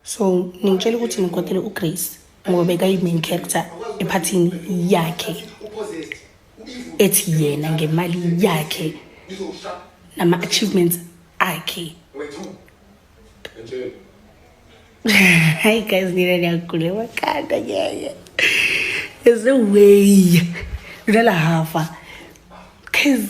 so ningitshela ukuthi ngikwatele ugrace ngoba bekayi-main character ephathini yakhe ethi yena ngemali yakhe nama-achievements akhe hayi guys nina niyagula emakhanda ngeke there's no way lona lahafa cause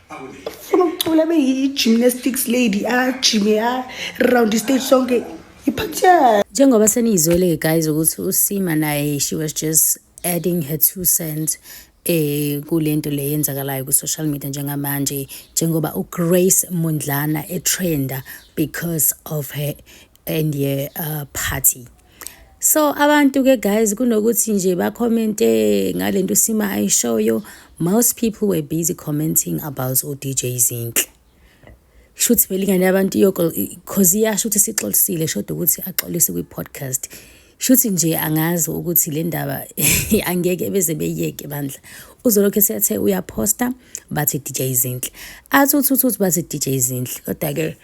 funa ukucula be yi-gymnastics lady ajime ah, around ah, istage sonke iphathiyana njengoba seniyizwele-ke guys ukuthi usima naye she was just adding her two cents eh kulento le yenzakalayo ku social media njengamanje njengoba uGrace Mundlana etrenda because of her and ye uh, party so abantu ke guys kunokuthi nje bakhomente ngale nto usima ayishoyo most people were busy commenting about udj zinhle shuthi vele ingane yabantu iyokho cause iyasho ukuthi sixolisile shoda ukuthi axolise kwi-podcast Shuthi nje angazi ukuthi le ndaba angeke beze beyeke bandla. Uzolokhu esethe uyaphosta bathi DJ Zinhle. Athi uthi uthi bathi DJ Zinhle. Kodwa ke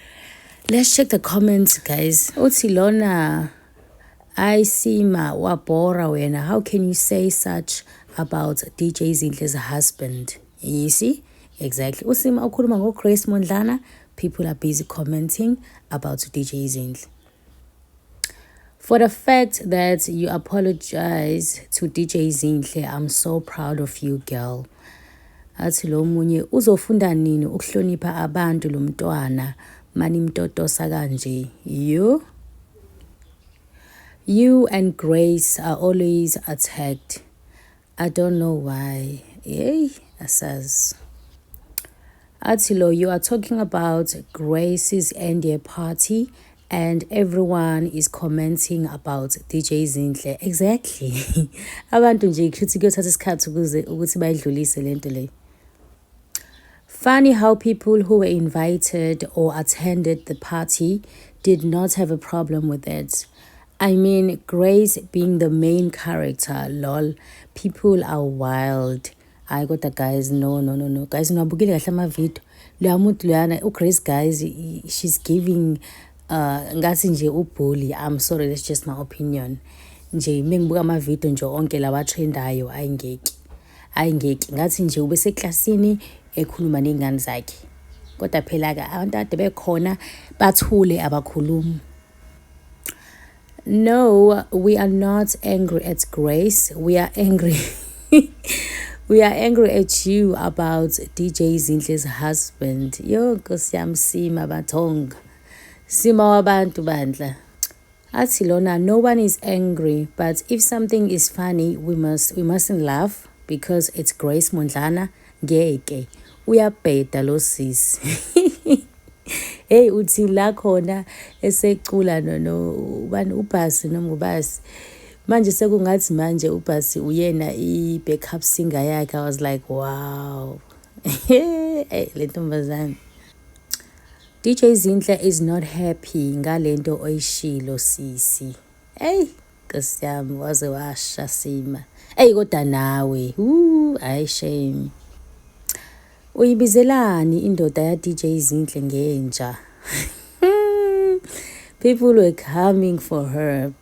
let's check the comments guys. Uthi lona I see ma wabhora wena. How can you say such about DJ Zinhle's husband? You see? Exactly. Usima ukhuluma ngo Grace Mondlana. People are busy commenting about DJ Zinhle. For the fact that you apologize to DJ Zinhle, I'm so proud of you girl. Athi lo munye uzofunda nini ukuhlonipha abantu lo mntwana manimtotosa kanje. You You and Grace are always attacked. I don't know why. Hey, asaz. Atilo, you are talking about Grace's NDA party and everyone is commenting about DJ Zinhle. Exactly. Abantu nje kushuthi kuyothatha isikhathi ukuze ukuthi bayidlulise lento le. Funny how people who were invited or attended the party did not have a problem with it. I mean, Grace being the main character, lol. People are wild. hayi kodwa guys no no no no guys niwabukile kahle amavidiyo loya muntu loyana ugrace guys she's giving uh ngathi nje ubully i'm sorry that's just my opinion nje mengibuka amavidiyo nje onke lawa trendayo ayingeki Hayi ngeke ngathi nje ubeseklasini ekhuluma ney'ngane zakhe. Kodwa phela-ke abantu ade bekhona bathule abakhulumi. No, we are not angry at Grace. We are angry. we are angry at you about DJ Zinhle's husband. Yo, Nkosi yami sima bathonga. Sima wabantu bandla. athi lona no one is angry but if something is funny we must we mustn't laugh because it's Grace Mondlana ngeke uyabheda lo sisi hey uthi la khona esecula no no ubani ubhasi nomngubasi manje sekungathi manje ubhasi uyena i-backup singer yakhe i was like wow hey le ntombazane DJ Zinhle is not happy ngalento oyishilo sisi. Hey, Nkosi yami waze washa sima. Hey kodwa nawe. Ooh, ay shame. Uyibizelani indoda ya DJ Zinhle ngenja? People were coming for her.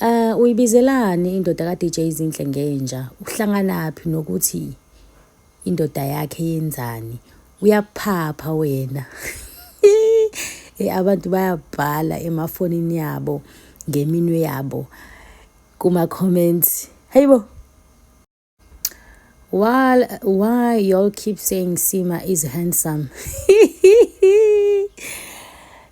Uh, uyibizelani indoda ka-DJ Zinhle ngenja? Uhlanganaphi nokuthi indoda yakhe yenzani? Uyaphapha wena. Eh, abantu bayabhala emafonini yabo ngeminwe yabo kuma-comments. Hayibo. Why, why y'all keep saying Sima is handsome?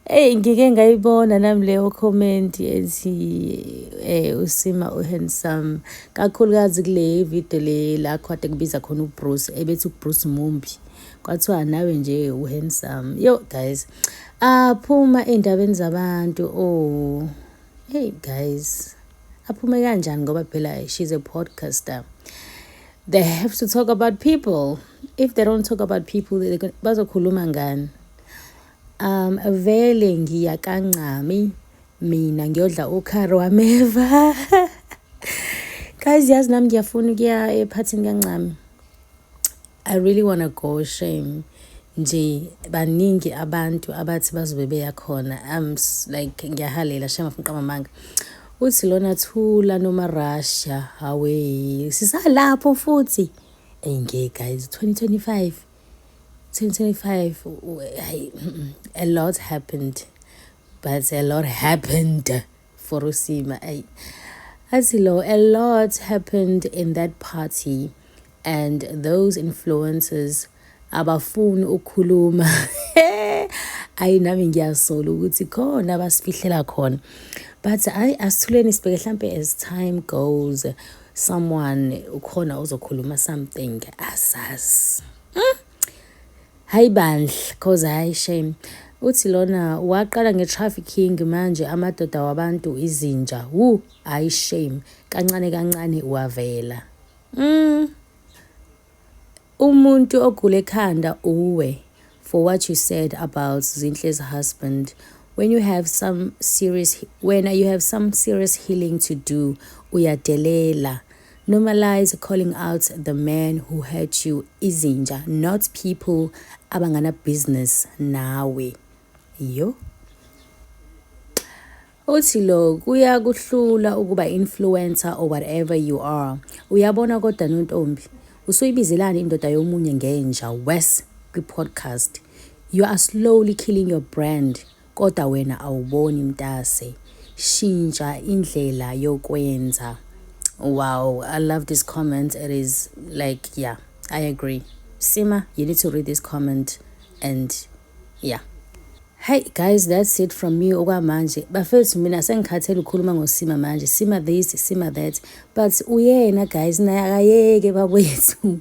Hey ngike ngayibona nami leyo comment ethi eh usima u handsome kakhulukazi kule video le la khwade kubiza khona uBruce ebethi uBruce mumbi kwathiwa nawe nje u handsome yo guys aphuma ah, endabeni zabantu oh hey guys aphume kanjani ngoba phela she's a podcaster they have to talk about people if they don't talk about people bazokhuluma ngani um vele ngiya kancami mina ngiyodla ukhari wameva guys yazi nami ngiyafuna ukuya ephathini kancami I really wanna go shame nje baningi abantu abathi bazobe beya khona am like ngiyahalela shame afuna qamamanga uthi lona thula noma Russia hawe sisalapho futhi hey ngeke guys 2025 2025 a lot happened but a lot happened for usima ay asilo a lot happened in that party and those influencers abafuni ukukhuluma ayi nami ngiyasola ukuthi khona abasifihlela khona but ayi asithuleni sibheke hlampe as time goes someone ukhona ozokhuluma something asazi hmm? Hayi bandla cause hayi shame. Uthi lona waqala nge-trafficking manje amadoda wabantu izinja. Wu, hayi shame. Kancane kancane wavela. Mm. Umuntu ogule ekhanda uwe for what you said about Zinhle's husband. When you have some serious when you have some serious healing to do uyadelela. Normalize calling out the man who hurt you izinja not people abangana business nawe. Yo. Uthi lo kuya kuhlula ukuba influencer or whatever you are. Uyabona kodwa nontombi usuyibizelani indoda yomunye ngenja worse kwi podcast. You are slowly killing your brand Kodwa wena awuboni mtase. Shintsha indlela yokwenza. Wow, I love this comment. It is like, yeah, I agree. Sima, you need to read this comment and yeah. Hey guys, that's it from me okwamanje. Bafethu mina sengikhathele ukukhuluma ngosima manje. Sima this, sima that. But uyena guys naye akayeke babwethu.